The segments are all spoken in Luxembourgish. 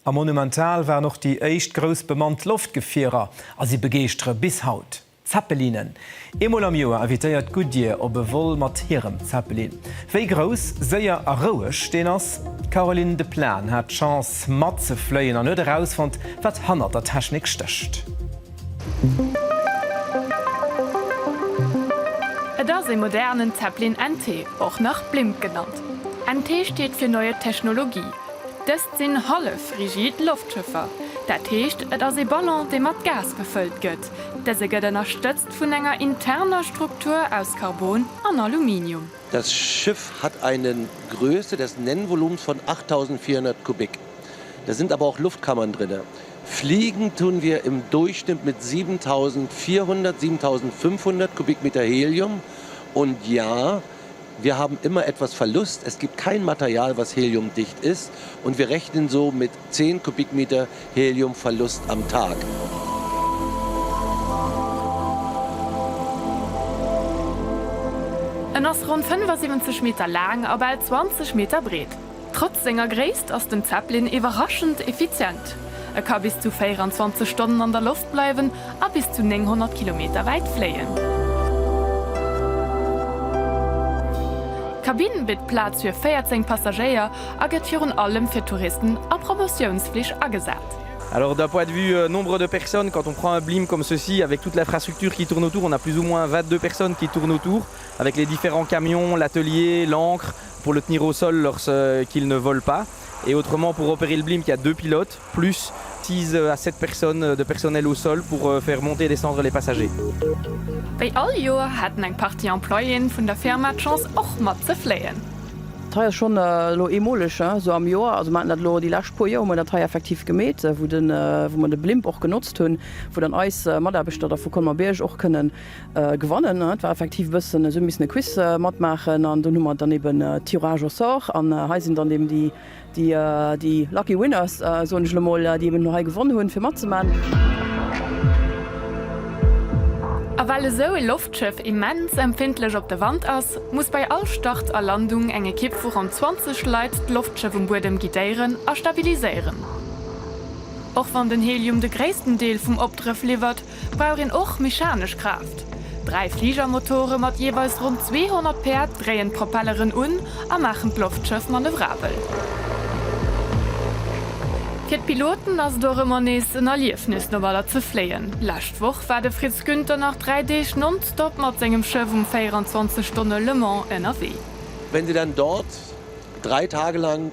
A monumental waren och déi éischt grouss bemannt Loftgefierer a si begeeschtere bis haut. Zeppelinen. Eemol am Joer invitéiert Goodyear op e Vol mat hirem Zeppelin. Wéi grouss, séier a roueg deen ass? D'Caroline de Plan hat d'Chance matzefléien an huet erausfonnt, wat hannert der Technik stécht. Et ass ee modernen Zeppelin NT, och nach Blimp genannt. NT steet fir Neue Technologie. sinn hallef-rigid Loftschëffer, dat heescht et ass ee Ballon dee mat Gas befëllt gëtt. Dëse gëtt ënnerstëtzt vun enger interner Struktur aus Carbon an Aluminium. Das Schiff hat eine Größe des Nennvolumens von 8.400 Kubik, da sind aber auch Luftkammern drin. Fliegen tun wir im Durchschnitt mit 7.400, 7.500 Kubikmeter Helium und ja, Wir haben immer etwas Verlust, es gibt kein Material, was heliumdicht ist, und wir rechnen so mit 10 Kubikmeter Heliumverlust am Tag. En ass ronn 75 Meter laang a bal 20 Meter breet. Trotz senger Gréisst ass den Zeppelin iwwerraschend effizient. E ka bis zu 24 Stonnen an der Loft bleiwen a bis zu 900 Kilometer wäit fléien. D'Kabinn bitt Plaz fir 14 Passagéier a gëtt virun allem fir Touristen a Promotiounsflich agesat. Alors d'un point de vue nombre de personnes, quand on prend un blimp comme ceci avec toute l'infrastructure qui tourne autour, on a plus ou moins 22 personnes qui tournent autour avec les différents camions, l'atelier, l'ancre, Polotnyro seul leur ce qu'il ne vole pas et autrement pour opérer le blimp il y a deux pilotes plus six à sept personnes de personnel au sol pour faire monter et descendre les passagers. Wéi all Joer haten eng Partie Employéen vun der Firma d'Chance och mat ze fléien. Hei ass schonn elo eemoleg esou am Joer, also mer haten dat elo déi lescht puer Joer hu mer dat hei effektiv gemeet, wou mer de Blimp och genotzt hunn, wou dann eis Mataarbechter da vu Colmer-Bierg och kënnen Gewannen. Et war effektiv e bëssen esou, mir hu missen e Quiz matmaachen an dunn hu mer dann eben Tirage au sort an hei sinn dann eben déi, déi, déi lucky winners, soen ech elo mol, déi eben elo hei gewonn hunn, fir matzemaachen. A well esou e Loftschëff immens empfindlech op de Wand ass, muss bei all Start a Landung eng Ekipp vu ronn 20 Leit d'Loftschëff um Buedem guidéieren a stabiliséieren. Och wann den Helium de gréissten Deel vum Opdrëff liwwert, brauch een och mechanesch Kraaft. Dräi Fligermotore mat jeeweils ronn 200 Päerd dréien d'Propelleren un a maachen d'Loftschëff manövrabel. Fir d'Piloten ass et och ëmmer nees en Erliefnis no Walfer ze fléien. Lescht Woch war de Fritz Günther nach dräi Deeg nonstop mat sengem Schëff um 24 Stonne Le Mans ënnerwee. Wenn sie dann dort drei Tage lang.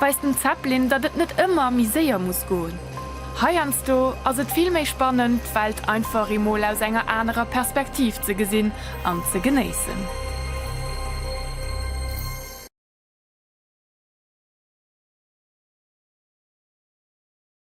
weist den Zeppelin, datt et net ëmmer méi séier muss goen. Heiansdo ass et vill méi spannend, d'Welt einfach emol aus enger anerer Perspektiv ze gesinn an ze genéissen.